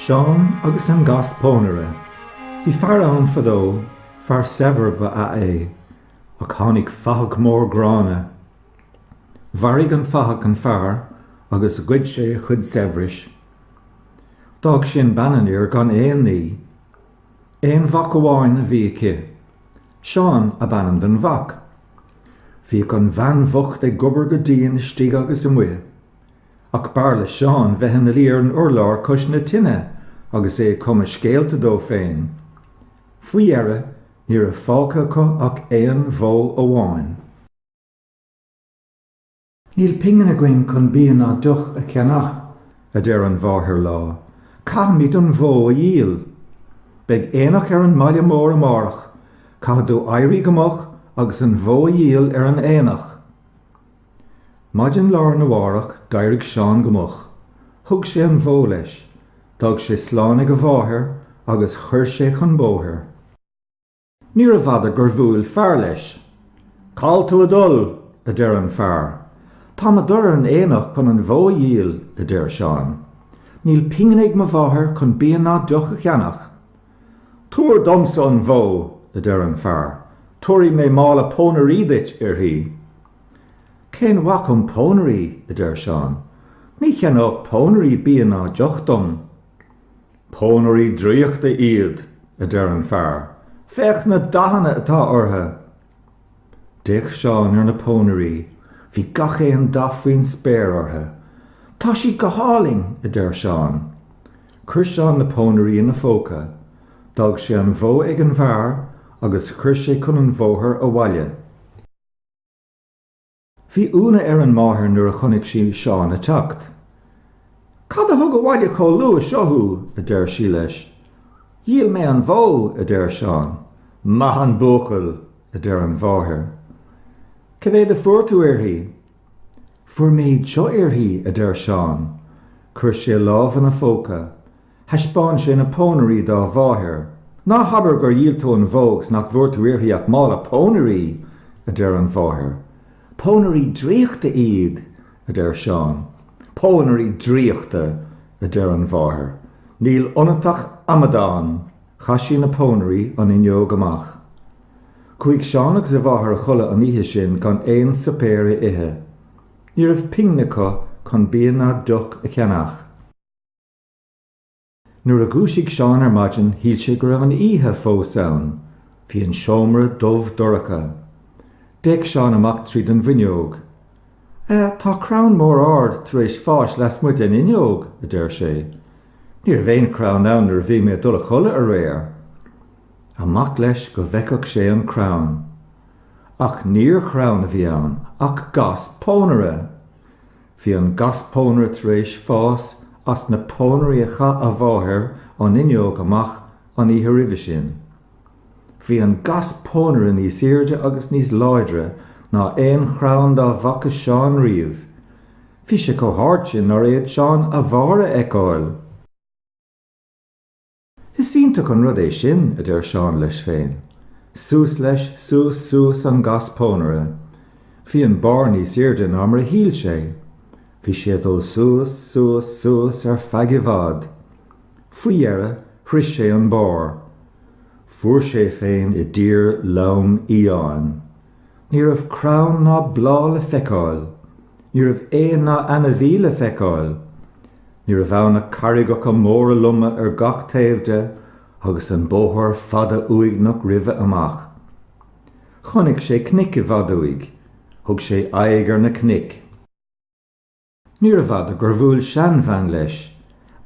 Seán agus an Gas Pónaire. Bhí fear ann fadó, fear saibhir ba ea é, ach tháinig fathach mór gránna. Mharaigh an fathach an fear agus ghoid sé a chuid saibhris. D'fhág sin bean an fhir gan aon ní. Aon mhac amháin a bhí aici. Seán ab ainm don mhac. Bhíodh an bhean bhocht ag obair go dian istigh agus amuigh. Ach b'fhearr le Seán bheith ina luí ar an urlár cois na tine agus é ag cumadh scéalta dó féin. Faoi dheireadh ní raibh fágtha acu ach aon bhó amháin. 'Níl pingin againn chun bia ná deoch a cheannach, a deir an mháthair lá, 'caithfimid an bhó a dhíol. Beidh aonach ar an mbaile mór amárach, caithfidh tú éirí go moch agus an bhó a dhíol ar an aonach. Maidin lá'r na mhárach d'éirigh Seán go moch, thug sé an bhó leis, d'fhág sé slán ag a mháthair agus chuir sé chun bóthair. Níorbh fhada gur bhuail fear leis. Cá bhfuil tú ag dul? a deir an fear. Táim ag dul ar an aonach chun an bhó a dhíol, a deir Seán. Níl pingin ag mo mháthair chun bia ná deoch a cheannach. Tabhair dhomsa an bhó, a deir an fear, tabharfaidh mé mála pónairí duit uirthi. Cén mhaith dhom pónairí, a deir Seán, ní cheannódh pónairí bia ná deoch dom. Pónairí draíochta iad, a deir an fear, féach na dathanna atá orthu! D'fhéach Seán ar na pónairí, bhí gach aon dath faoin spéir orthu. Tá siad go hálainn! a deir Seán. Chuir Seán na pónairí ina phóca, d'fhág sé an bhó ag an bhfear agus chuir sé chun an bhóthair abhaile. Bhí ionadh ar an máthair nuair a chonaic sí Seán ag teacht. Cad a thug abhaile chomh luath seo thú? a deir sí leis. Dhíol mé an bhó, a deir Seán. Maith an buachaill! a deir an mháthair. Cé mhéad a fuair tú uirthi? Fuair mé iad seo uirthi, a deir Seán. Chuir sé a lámh ina phóca. Thaispeáin sé na pónairí dá mháthair. Ná habair gur dhíol tú an bhó agus nach bhfuair tú uirthi ach mála pónairí! a deir an mháthair. Pónairí draíochta iad! a deir Seán. Pónairí draíochta! a deir an mháthair. Níl ionat ach amadán! Chaith sí na pónairí an fhuinneog amach. Chuaigh Seán agus a mháthair a chodladh an oíche sin gan aon suipéar a ithe. Ní raibh pingin acu chun bia ná deoch a cheannach. Nuair a dhúisigh Seán ar maidin shíl sé go raibh an oíche fós ann. Bhí an seomra dubh dorcha. D'fhéach Seán amach tríd an bhfuinneog. A, tá crann mór ard tar éis fáis lasmuigh den fhuinneog, a deir sé. Ní raibh aon chrann ann nuair a bhí mé ag dul a chodladh aréir. Amach leis go bhfeicfeadh sé an crann. Ach níor chrann a bhí ann ach gas pónaire! Bhí an gas pónaire tar éis fás as na pónairí a chaith a mháthair an fhuinneog amach an oíche roimhe sin. Bhí an gas pónaire níos airde agus níos láidre ná aon chrann dá bhfaca Seán riamh. Bhí sé chomh hard sin nár fhéad Seán a bharr a fheiceáil! Is iontach an rud é sin, a deir Seán leis féin. Suas leis, suas, suas an gas pónaire. Bhí an barr níos airde ná mar a shíl sé. Bhí sé ag dul suas, suas, suas ar feadh i bhfad. Faoi dheireadh, shroich sé an barr. Fuair sé féin i dtír lom fhiáin. Ní raibh crann ná bláth le feiceáil, ní raibh éan ná ainmhí le feiceáil. Ní raibh ann ach carraigeacha móra loma ar gach taobh de agus an bóthar fada uaigneach roimhe amach. Chonaic sé cnoic i bhfad uaidh. Thug sé aghaidh ar na cnoic. Níorbh fhada gur bhuail seanbhean leis.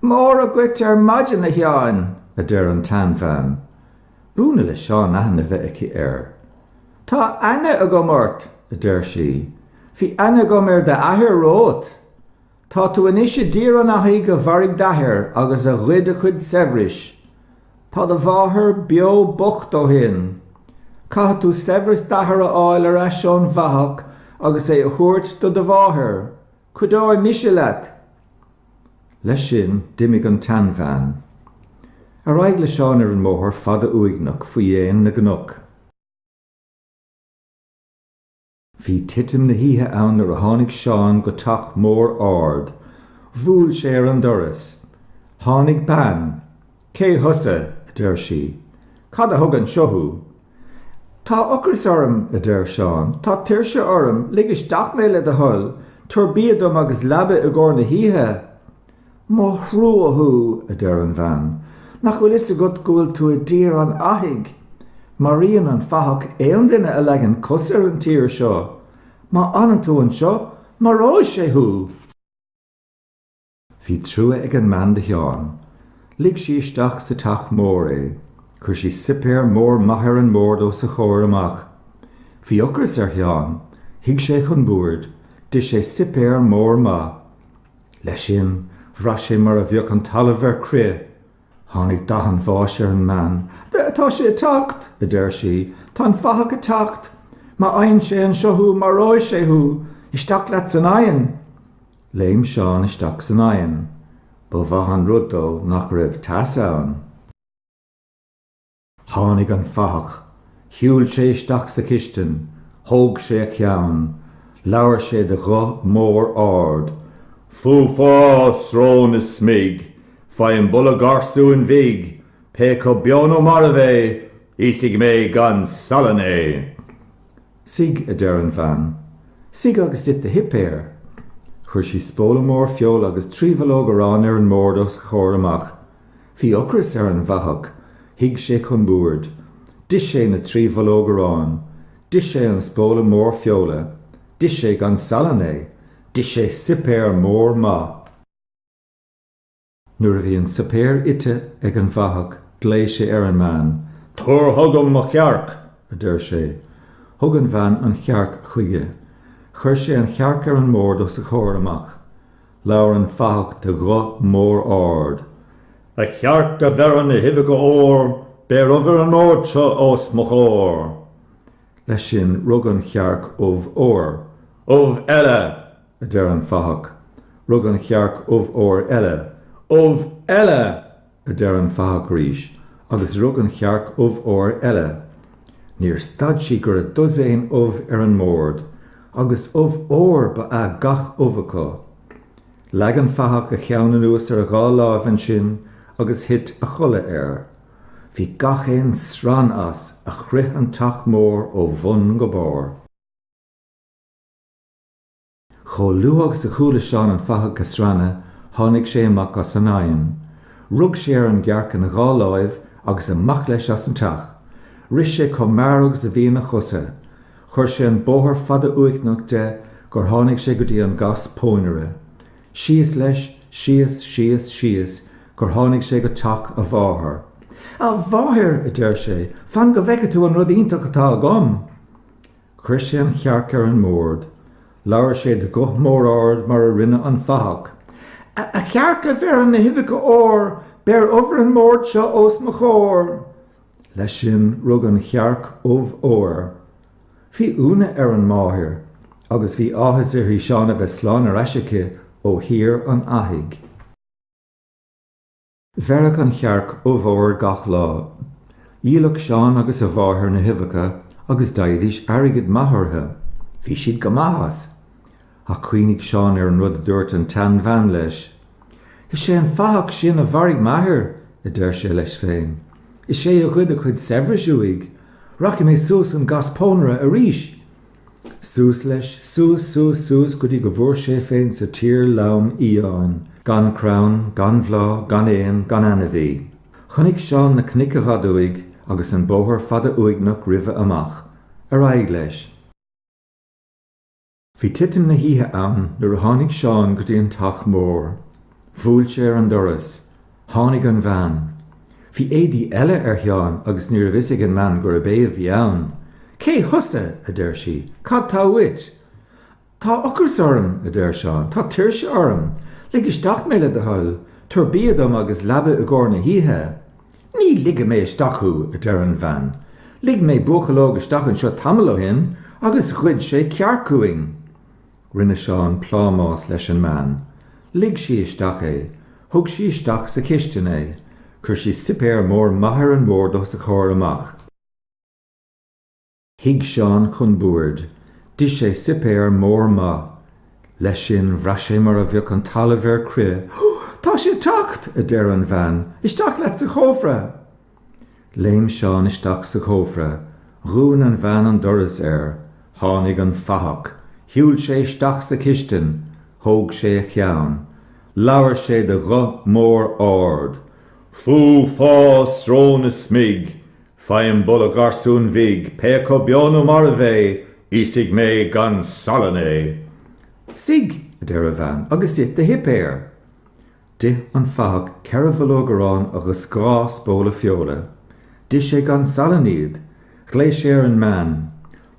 Mora dhuit ar maidin, a Sheáin! a deir an tseanbhean. B'ionadh le Seán aithne bheith aici air. Tá aithne agam ort! a deir sí. Bhí aithne agam ar d'athair romhat. Tá tú anois i dTír an Fhathaigh a mharaigh d'athair agus a ghoid a chuid saibhris. Tá do mháthair beo bocht ó shin. Caithfidh tú saibhreas d'athar a fháil ar ais ón bhfathach agus é a thabhairt do do mháthair. Cuideoidh mise leat! Leis sin, d'imigh an tseanbhean. Ar aghaidh le Seán ar an mbóthar fada uaigneach faoi dhéin na gcnoc. Bhí titim na hoíche ann nuair a tháinig Seán go teach mór ard. Bhuail sé ar an doras. Tháinig bean. Cé thusa? a deir sí. Cad a thug anseo thú? Tá ocras orm, a deir Seán. Tá tuirse orm. Lig isteach mé le do thoil. Tabhair bia dom agus leaba i gcomhair na hoíche. Mo thrua thú, a deir an bhean, nach bhfuil fhios agat go bhfuil tú i dtír an fhathaigh? Maraíonn an fathach aon duine a leagann cos ar an tír seo. Má fhanann tú anseo, maróidh sé thú! Bhí trua ag an mbean do Sheán. Lig sí isteach sa teach mór é. Chuir sí suipéar mór maith ar an mbord os a chomhair amach. Bhí ocras ar Sheán. Shuigh sé chun boird. D'ith sé suipéar mór maith. Leis sin, bhraith sé mar a bheadh an talamh ar crith. Tháinig dath an bháis ar an mbean. Tá sé ag teacht! a deir sí. Tá an fathach ag teacht! Má fhaigheann sé anseo thú, maróidh sé thú! Isteach leat san oigheann! Léim Seán isteach san oigheann. Ba mhaith an rud dó nach raibh teas ann. Tháinig an fathach. Shiúil sé isteach sa chistin. Thóg sé a cheann. Labhair sé de ghuth mór ard, Fú Fá, srón is smig! Faighim boladh garsúin bhig, pé acu beo nó marbh é! Íosfaidh mé gan salann é! Suigh, a deir an bhean. Suigh agus ith do shuipéar. Chuir sí spóla mór feola agus trí bhollóg aráin ar an mbord os a chomhair amach. Bhí ocras ar an bhfathach. Shuigh sé chun boird. D'ith sé na trí bhollóg aráin. D'ith sé an spóla mór feola. D'ith sé gan salann é. D'ith sé suipéar mór maith. Nuair a bhí an suipéar ite ag an bhfathach ghlaoigh sé ar an mbean. Tabhair chugam mo chearc! a deir sé. Thug an bhean an chearc chuige. Chuir sé an chearc ar an mbord os a chomhair amach. Labhair an fathach de ghuth mór ard, A chearc a bheireann na huibheacha óir beir ubh ar an mbord seo os mo chomhair! Leis sin rug an chearc ubh óir. Ubh eile! a deir an fathach. Rug an chearc ubh óir eile. Ubh eile! a deir an fathach arís, agus rug an chearc ubh óir eile. Níor stad sí go raibh dosaen ubh ar an mbord, agus ubh óir ba ea gach ubh acu. Leag an fathach a cheann anuas ar a dhá láimh ansin agus thit a chodladh air. Bhí gach aon srann as a chrith an teach mór ó bhun go barr. Chomh luath agus a chuala Seán an fathach ag srannadh, tháinig sé amach as an oigheann. Rug sé ar an gcearc ina dhá láimh agus amach leis as an teach. Rith sé chomh mear agus a bhí ina chosa. Chuir sé an bóthar fada uaigneach de gur tháinig sé go dtí an gas pónaire. Síos leis, síos, síos, síos, gur tháinig sé go teach a mháthar. A mháthair! a deir sé, fan go bhfeice tú an rud iontach atá agam! Chuir sé an chearc ar an mbord. Labhair sé de ghuth mór ard mar a rinne an fathach. A chearc a bheireann na huibheacha óir, beir ubh ar an mbord seo os mo chomhair. Leis sin rug an chearc ubh óir. Bhí ionadh ar an máthair agus bhí áthas uirthi Seán a bheith slán ar ais aici ó thír an fhathaigh. Bheireadh an chearc ubh óir gach lá. Dhíoladh Seán agus a mháthair na huibheacha agus d'fhaighidís airgead maith orthu. Bhí siad go maith as! Ach chuimhnigh Seán ar an rud a dúirt an tseanbhean leis. Is é an fathach sin a mharaigh m'athair! a deir sé leis féin. Is é a ghoid a chuid saibhris uaidh! Rachaidh mé suas an gas pónaire arís! Suas leis, suas, suas, suas go dtí go bhfuair sé féin sa tír lom fhiáin, gan crann, gan bhláth, gan éan, gan ainmhí. Chonaic Seán na cnoic i bhfad uaidh agus an bóthar fada uaigneach roimhe amach. Ar aghaidh leis. Bhí titim na hoíche ann nuair a tháinig Seán go dtí an teach mór. Bhuail sé ar an doras. Tháinig an bhean. Bhí éadaí eile ar Sheán agus ní raibh a fhios ag an mbean gurb é a bhí ann. Cé thusa? a deir sí. Cad tá uait? Tá ocras orm, a deir Seán. Tá tuirse orm. Lig isteach mé le do thoil. Tabhair bia dom agus leaba i gcomhair na hoíche. Ní ligfidh mé isteach thú, a deir an bhean. Lig mé buachaill óg isteach anseo tamall ó shin agus ghoid sé cearc uainn. Rinne Seán plámás leis an mbean. Lig sí isteach é. Thug sí isteach sa chistin é. Chuir sí suipéar mór maith ar an mbord os a chomhair amach. Shuigh Seán chun boird. D'ith sé suipéar mór maith. Leis sin, bhraith sé mar a bheadh an talamh ar crith. Tá sé ag teacht! a deir an bhean. Isteach leat sa chófra! Léim Seán isteach sa chófra, dhún an bhean an doras air, tháinig an fathach, shiúil sé isteach sa chistin, thóg sé a cheann, labhair sé de ghuth mór ard, Fú, fá, srón is smig, faighim boladh garsúin bhig, pé acu beo nó marbh é, íosfaidh mé gan salann é! Suigh, a deir a bhean, agus ith do shuipéar. D'ith an fathach ceithre bhollóg aráin agus dhá spóla feola. D'ith sé gan salann iad. Ghlaoigh sé ar an mbean.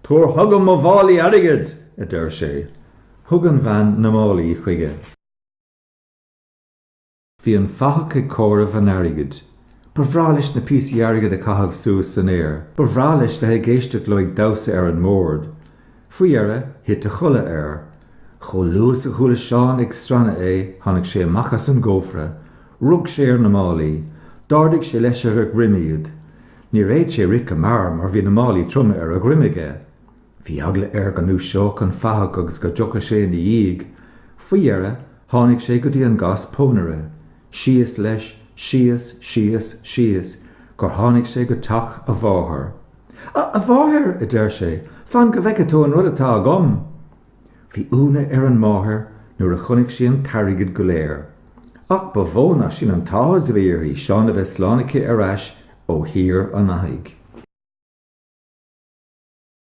Tabhair chugam mo mhálaí airgid! a deir sé. Thug an bhean na málaí chuige. Bhí an fathach ag comhaireamh an airgid. Ba bhreá leis na píosaí airgid a chaitheamh suas san aer. Ba bhreá leis bheith ag éisteacht leo ag damhsa ar an mbord. Faoi dheireadh, thit a chodladh air. Chomh luath is a chuala Seán ag srannadh é, tháinig sé amach as an gcófra. Rug sé ar na málaí. D'ardaigh sé leis ar a dhroim iad. Níor fhéad sé rith go mear mar bhí na málaí troma ar a dhroim aige. Bhí eagla air go ndúiseodh an fathach agus go dtiocfadh sé ina dhiaidh. Faoi dheireadh, tháinig sé go dtí an gas pónaire. Síos leis, síos, síos, síos, gur tháinig sé go teach a mháthar. 'A mháthair, a deir sé, 'fan go bhfeice tú an rud atá agam! Bhí ionadh ar an máthair nuair a chonaic sí an t-airgead go léir, ach ba mhó ná sin an t-áthas a bhí uirthi Seán a bheith slán aici ar ais ó Thír an Fhathaigh.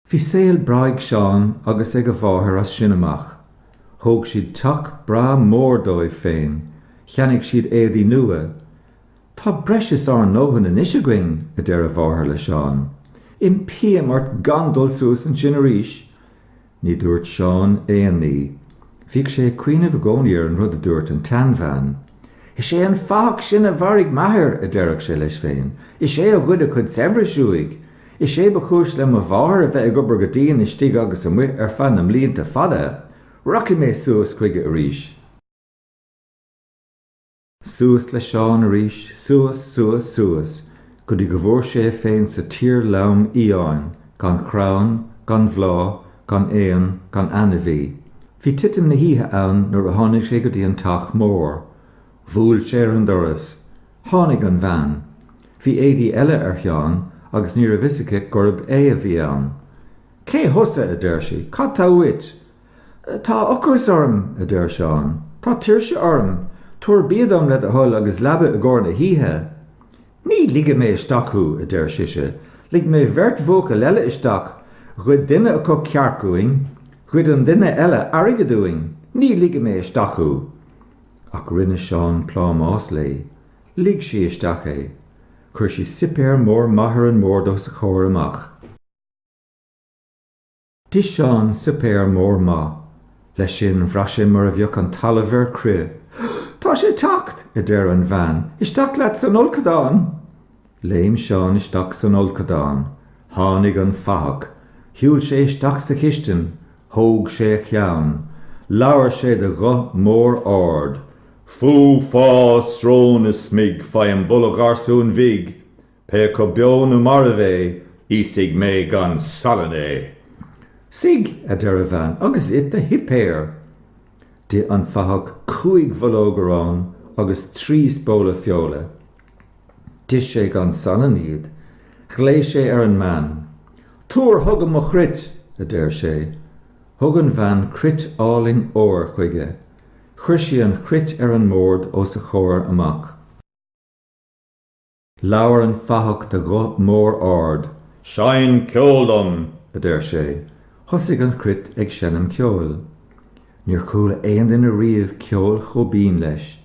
Bhí saol breá ag Seán agus ag a mháthair as sin amach. Thóg siad teach breá mór dóibh féin, cheannaigh siad éadaí nua, 'Tá breis is ár ndóthain anois againn, a deir a mháthair le Seán. 'Impím ort gan dul suas ansin arís! Ní dúirt Seán aon ní. Bhíodh sé ag cuimhneamh i gcónaí ar an rud a dúirt an tseanbhean. 'Is é an fathach sin a mharaigh m'athair, a deireadh sé leis féin. 'Is é a ghoid a chuid saibhris uaidh. Is é ba chúis le mo mháthair a bheith ag obair go dian istigh agus amuigh ar feadh na mblianta fada. Rachaidh mé suas chuige arís. Suas le Seán arís, suas, suas, suas, go dtí go bhfuair sé é féin sa tír lom fhiáin, gan chrann, gan bhláth, gan éan, gan ainmhí. Bhí titim na hoíche ann nuair a tháinig sé go dtí an teach mór. Bhuail sé ar an doras. Tháinig an bhean. Bhí éadaí eile ar Sheán agus ní raibh fhios aici gurb é a bhí ann. Cé thusa? a deir sí. Cad tá uait? Tá ocras orm, a deir Seán. Tá tuirse orm. Tabhair bia dom le do thoil agus leaba i gcomhair na hoíche. Ní ligfidh mé isteach thú, a deir sise. Lig mé beirt bhuachaill eile isteach. Ghoid duine acu cearc uainn. Ghoid an duine eile airgead uainn. Ní ligfidh mé isteach thú. Ach rinne Seán plámás léi. Lig sí isteach é. Chuir sí suipéar mór maith ar an mbord os a chomhair amach. D'ith Seán suipéar mór maith. Leis sin bhraith sé mar a bheadh an talamh ar crith. Tá sé ag teacht! a deir an bhean. Isteach leat san fholcadán! Léim Seán isteach san fholcadán. Tháinig an fathach. Shiúil sé isteach sa chistin. Thóg sé a cheann. Labhair sé de ghuth mór ard. Fú, fá, srón is smig, faighim boladh gharsúin bhig! Pé acu beo nó marbh é, íosfaidh mé gan salann é! Suigh, a deir a bhean, agus ith do shuipéar! D'ith an fathach cúig bhollóg aráin agus trí spóla feola. D'ith sé gan salann iad. Ghlaoigh sé ar an mbean. Tabhair chugam mo chruit! a deir sé. Thug an bhean cruit álainn óir chuige. Chuir sí an chruit ar an mbord os a chomhair amach. Labhair an fathach de ghuth mór ard. Seinn ceol dom! a deir sé. Thosaigh an chruit ag seinm ceoil. Níor chuala aon duine riamh ceol chomh binn leis.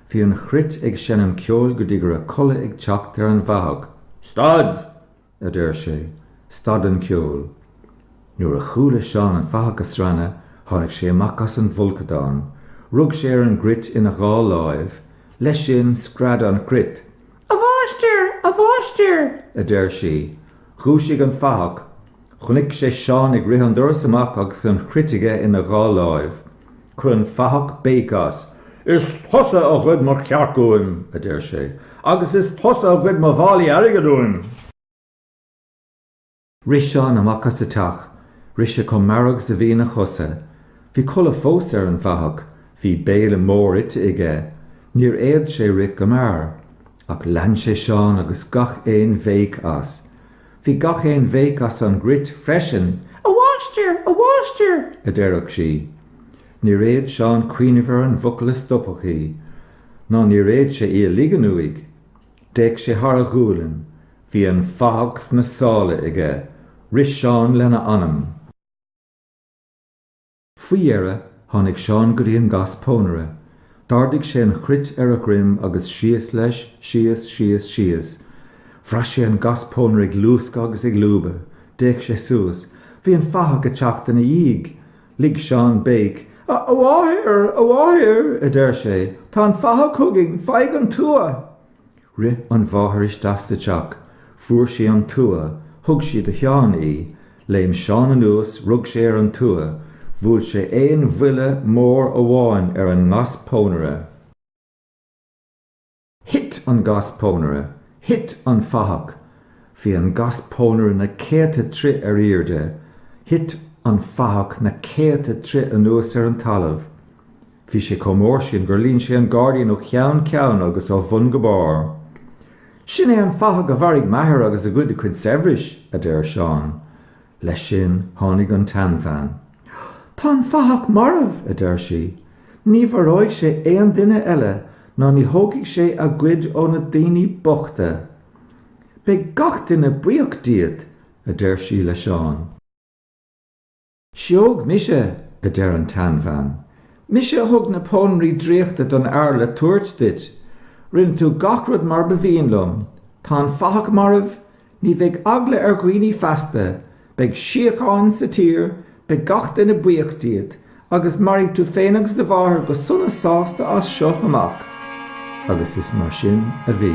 Bhí an chruit ag seinm ceoil go dtí go raibh codladh ag teacht ar an bhfathach. Stad! a deir sé, stad an ceol. Nuair a chuala Seán an fathach ag srannadh, tháinig sé amach as an bhfolcadán, rug sé ar an gcruit ina dhá láimh, leis sin, scread an chruit. A mháistir! A mháistir! a deir sí. Dhúisigh an fathach. Chonaic sé Seán ag rith an doras amach agus an chruit aige ina dhá láimh. Chuir an fathach béic as. Is tusa a ghoid mo chearc uaim! a deir sé, agus is tusa a ghoid mo mhálaí airgid uaim! Rith Seán amach as an teach, rith sé chomh mear agus a bhí ina chosa. Bhí codladh fós ar an bhfathach, bhí béile mór ite aige, níor fhéad sé rith go mear. Ach lean sé Seán agus gach aon bhéic as. Bhí gach aon bhéic as an gcruit freisin, 'A mháistir! A mháistir! a deireadh sí. Níor fhéad Seán cuimhneamh ar an bhfocal a stopfadh í, ná níor fhéad sé í a ligean uaidh. D'fhéach sé thar a ghualainn. Bhí an fathach sna sála aige. Rith Seán lena anam. Faoi dheireadh, tháinig Seán go dtí an gas pónaire. D'ardaigh sé an chruit ar a dhroim agus síos leis, síos, síos, síos. Bhraith sé an gas pónaire ag luascadh agus ag lúbadh. D'fhéach sé suas. Bhí an fathach ag teacht ina dhiaidh! Lig Seán béic. A mháthair! A mháthair! a deir sé. Tá an fathach chugainn! Faigh an tua! Rith an mháthair isteach sa teach, fuair sí an tua, thug sí do Sheán í, léim Seán anuas, rug sé ar an tua, bhuail sé aon bhuille mór amháin ar an ngas pónaire, thit an gas pónaire, thit an fathach, bhí an gas pónaire na céadta troigh ar aoirde, thit an fathach na céadta troigh anuas ar an talamh. Bhí sé chomh mór sin gur líon sé an gairdín ó cheann ceann agus ó bhun go barr. Sin é an fathach a mharaigh m'athair agus a ghoid a chuid saibhris, a deir Seán. Leis sin tháinig an tseanbhean. Tá an fathach marbh, a deir sí. Ní mharóidh sé aon duine eile ná ní thógfaidh sé a gcuid ó na daoine bochta. Beidh gach duine buíoch díot, a deir sí le Seán. Sióg mise, a deir an tseanbhean. Mise a thug na pónairí draíochta don fhear le tabhairt duit. Rinne tú gach rud mar ba mhian liom. Tá an fathach marbh, ní bheidh eagla ar dhaoine feasta, beidh síocháin sa tír, beidh gach duine buíoch díot, agus mairfidh tú féin agus do mháthair go sona sásta as seo amach. Agus is mar sin a bhí.